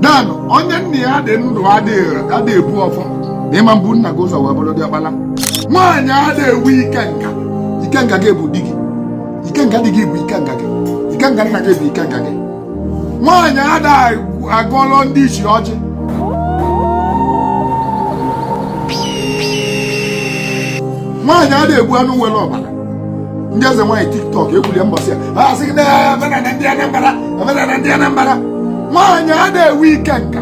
dan onye nna ya dị ndụ ada ebu ọfọ na ị ma bu nna gị ụzọ wee bụrụ diọkpala nwaanyị ada enwe ikenga ikenga gị bụ di gị ikenga di gị bụ ikenga gị ikenga nna gị bụ ikenga gị nwaanyị ada agọlụ ndị ichie ọjị nwaanyị ada egbu anụ nwere ọbara ndị eze nwaanyị tiktok ekwulie mbọsị ya ha asị gị na omenala ndị Anambra omenala ndị Anambra nwaanyị ada enwe ikenga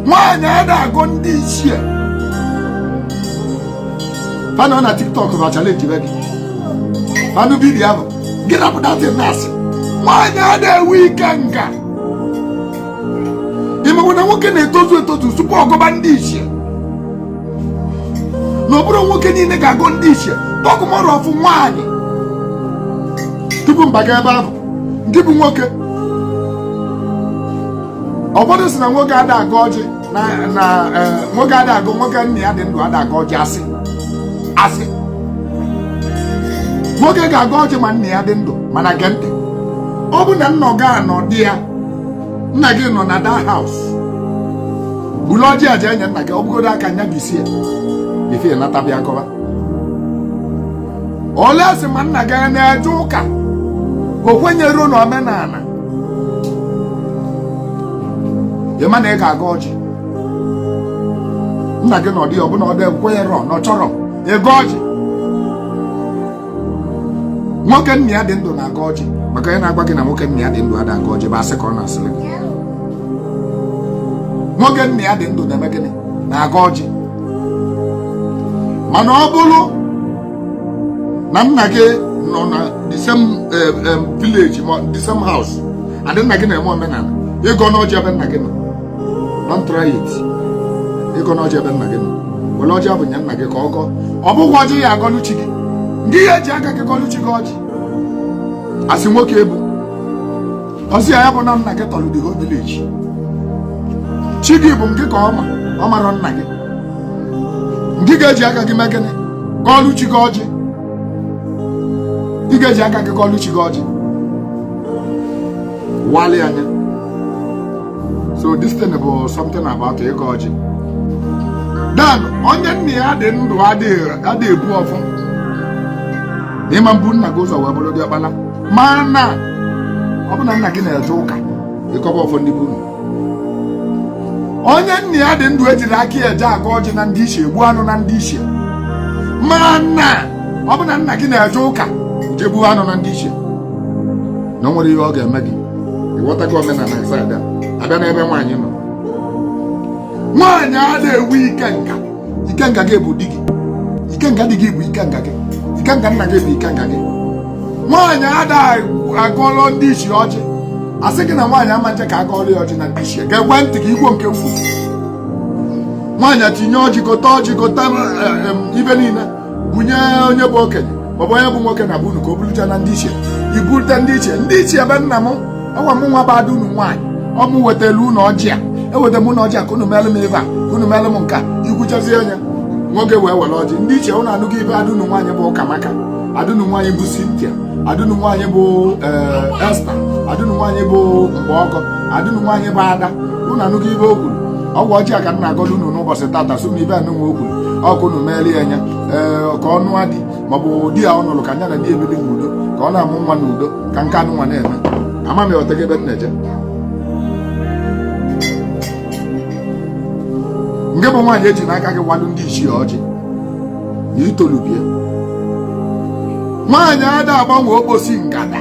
nwaanyị ada agọ ndị ichie fa anọ na tiktok ebe a challenge be gị anụ vidiyo ahụ gị na-apụta dị na-asị nwaanyị ada enwe ikenga ị makwa na nwoke na-etozu etozu tupu ọ gọba ndị ichie na ọ bụrọ nwoke niile ga-agọ ndị ichie talk more of nwaanyị tupu m baga ebe ahụ ndị bụ nwoke ụfọdụ sị na nwoke ada agọ ọjị na na eh, nwoke ada agọ nwoke nna ya dị ndụ ada agọ ọjị asị asị nwoke ga-agọ ọjị ma nna ya dị ndụ mana gee ntị ọ bụ na nna gị anọdụ ya nna gị nọ na that house bulu ọjị a je nye nna gị ọ bụgodo aka nya bisa ya ife ị nata bịa gọba unless ma nna gị a na-eje ụka o kwenyerọ na omenala ị ma na ị ga-agọ ọjị nna gị nọdụ ya ọ bụ na o kwenyerọ na ọ chọrọ ịgọ ọjị nwoke nna ya dị ndụ na-agọ ọjị maka onye na-agwa gị na nwoke nna ya dị ndụ ada agọ ọjị bụ asị ka ọ na-asịrị gị nwoke nna ya dị ndụ na-eme gịnị na-agọ ọjị mana ọ bụrụ na nna gị nọ na the same eh, eh, village ma the same house and nna gị na-eme omenala ị gọna ọjị ebe nna gị nọ don't try it ị gọna ọjị ebe nna gị nọ were ọjị ahụ nye nna gị ka ọ gọọ ọ bụkwa ọjị ị ya-agọlụ chi gị ngị ga-eji aka gị gọlụ chi gị ọjị as nwoke ị bụ ọ sị ya ya bụ na nna gị tọrọ the whole village chi gị bụ ngị ka ọ ma ọ marọ nna gị ngị ga-eji aka gị mee gịnị gọlụ chi gị ọjị ị ga-eji aka gị gọlụ chi gị ọjị waalụ ya nya so this thing bụ something about ịgọ ọjị dan onye nna ya dị ndụ ada ebu ọfọ ị ma bu nna gị ụzọ wee bụrụ diọkpala mana ọ bụ na nna gị na-eje ụka ị gọba ọfọ ndị be unu onye nna ya dị ndụ ejirọ aka ya eje agọ ọjị na ndị ichie egbu anụ na ndị ichie mana ọ bụ na nna gị na-eje ụka je gbuo anụ na ndị ichie na o nwerọ ihe ọ ga-eme gị ịghọtago omenala side a abịa n'ebe nwaanyị nọ nwaanyị ada ewu ikenga ikenga gị bụ di gị ikenga di gị bụ ikenga gị ikenga nna gị bụ ikenga gị nwaanyị ada agọlọ ndị ichie ọjị asị gị na nwaanyị ama nje ka agọọlọ ya ọjị na ndị ichie geekwe ntị gị igwo nke m kwu nwaanyị tinye ọjị gote ọjị gote eh, eh, ibe niile bunye onye bụ okenye maọbụ onye bụ nwoke na be unu ka o bulucha na ndị ichie i bulite ndị ichie ndị ichie be nna m ọnwa mụnwa bụ ada unu nwaanyị ọ mụ wetara unu ọjị a eweta m unu ọjị a ka unu meelụ m ibe a ka unu meelụ m nke a i kwuchazie onye nwoke wee were ọjị ndị ichie unu anụgo ibe ada unu nwaanyị bụ Ụkamaka ada unu nwaanyị bụ Cynthia ada unu nwaanyị bụ eh, Esther ada unu nwaanyị bụ Mgbọgọ ada unu nwaanyị bụ Ada unu anụgo ibe o kwuru ọ wụ ọjị a ka m na-agọdo unu n'ụbọchị tata so na ibe anụnwa o kwuru ọ ka unu meeli ya nya ee ka ọ nụọ di maọbụ di ya ọ nụrụ ka nya na di ebili n'udo ka ọ na-amụ nwa n'udo ka nke anụnwa na-eme ama m ịghọtago ebe m na-eje ngị bụ nwaanyị ejina aka gị walụ ndị ichie ọjị na i tolubie nwaanyị ada agbanwe okposi ngada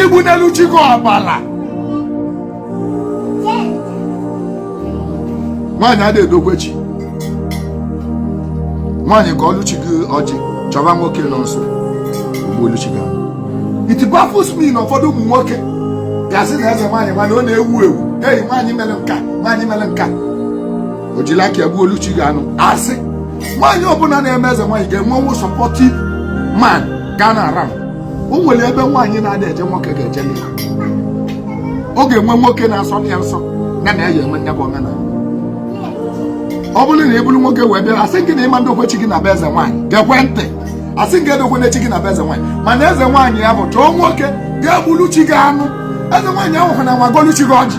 igbunyelu chi gị ọbala nwaanyị ada edokwe chi nwaanyị gọọlụ chi gị ọjị chọba nwoke nọ nso o gbuolu chi gị anụ. it baffles me na ụfọdụ ụmụ nwoke ga-asị na eze nwaanyị mana ọ na-ewu ewu hei nwaanyị mere nka nwaanyị mere nka o jiri aka ya gbuolu chi gị anụ asị nwaanyị ọbụla na-eme eze nwaanyị ga-enwenwu supportive man ga-anọ around o nwere ebe nwaanyị na-ada eje nwoke ga-eje ya ọ ga-enwe nwoke na-asọ ya nsọ ya na ya enwe nya bụ omenala ọ bụrụ na ị bụrụ nwoke wee bịara asị gị na ị ma ndokwe chi gị na be eze nwaanyị geekwe ntị asị gị edokwena chi gị na be eze nwaanyị mana eze nwaanyị ya bụ chọọ nwoke ga-egburu chi gị anụ eze nwaanyị ahụ nwa gọọlụ chi gị ọjị